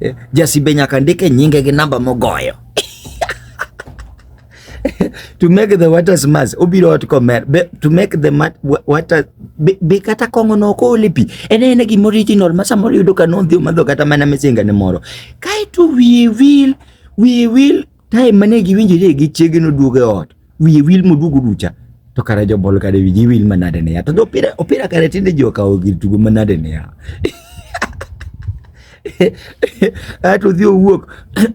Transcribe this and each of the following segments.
Eh, Jasibe nyaka ndike nyinge gi namba mogoyo. to make the waters mass obiro ot komer be to make the mat, water be, be kata kongo no ko lipi ene ene gi original ma samoro yudo ka nodhi omadho kata mana misinga ne moro kae to we will we will Time mane giwinjore gi chiege noduogo e ot, wiye wil moduogo ducha. To kare jobol kare wigi wil manade ne ya. To opira opira kare tinde ji okawo gir tugo manade ne ya. Ato odhi owuok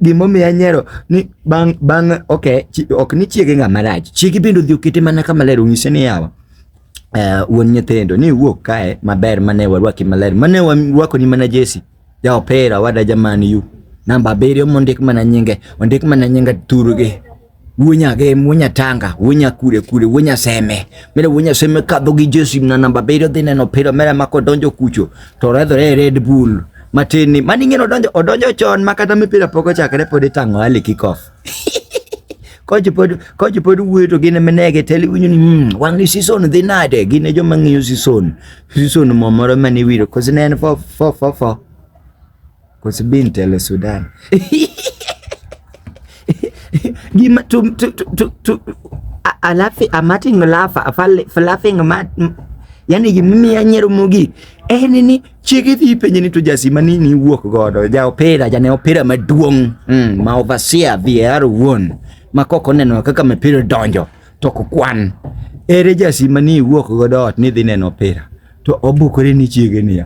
gimomiyo anyero ni bang' bang' okay, ok ni chiege ng'ama rach. Chiege bende odhi okete mana kama ler onyise ni yawa uh, wuon nyithindo ni wuok kae maber mane warwaki maler mane warwakoni mana jesi Ja opira wada jaman yu. Namba abiriyo mondik mana nyinge, ondik mana nyinge turgi. Wunya ge, wunya tanga, wunya kure kure, wunya seme. Mere wunya seme kadho gi Jesu na namba abiriyo dhi neno opira mere ma kodonjo kucho to redhore e Red Bull. Matin ni mani ng'eno odonjo odonjo chon ma kata mipira pok ochakre pod itang'o early kickoff. koch pod koch pod wuoyo to gin minege tele winyo ni mm, wang ni season dhi nade gin e joma ng'iyo season season mo moro mane wiro kosi ne en fo fo fo fo kosi bin tele Sudan gima to to to to alafi amating lafa afal flapping mat yani gimimiya nyero mogik en ni Chiege dhi penje ni to jasi ma nini wuok godo ja opira jane opira maduong' mm, ma overseer VAR wuon ma kok oneno kaka mipira donjo to ok kwan ere jasi ma ni wuok godo ot ni dhi neno opira to obukore ni chiege niya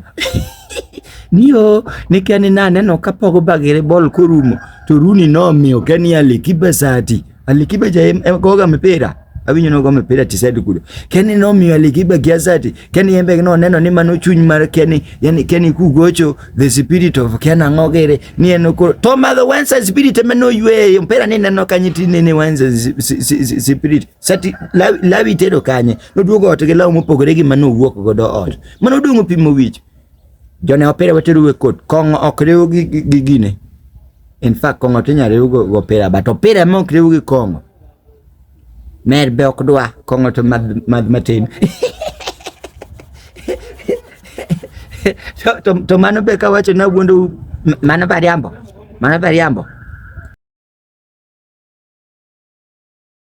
niyo nikia ni naneno ka Pogba gi bol korumo to Rooney nomiyo Kenny Ali kibasati Alikiba ja goga mpira awinyo nogo mpira tisedi kudo keni nomiyo alikiba gi azati keni yembe no neno ni mano chuny mar keni yani keni kugocho the spirit of kena ngogere ni en ko to ma the once spirit me no ywe mpira ni neno kanyi ti ni once spirit sati lawi tedo kanye no duogo ot gi lawo mopogore gi mano wuok godo ot mano dungo pimo wich Jone opira wateru e kot. Kong'o ok riw gi gi gine. In fact kong'o tinya riw go go opira but opira ema ok riw gi kong'o. Mer be ok dwa kong'o to madh madh matin. to, to, to mano be kawacho na wuondo mano bariambo. Mano bariambo.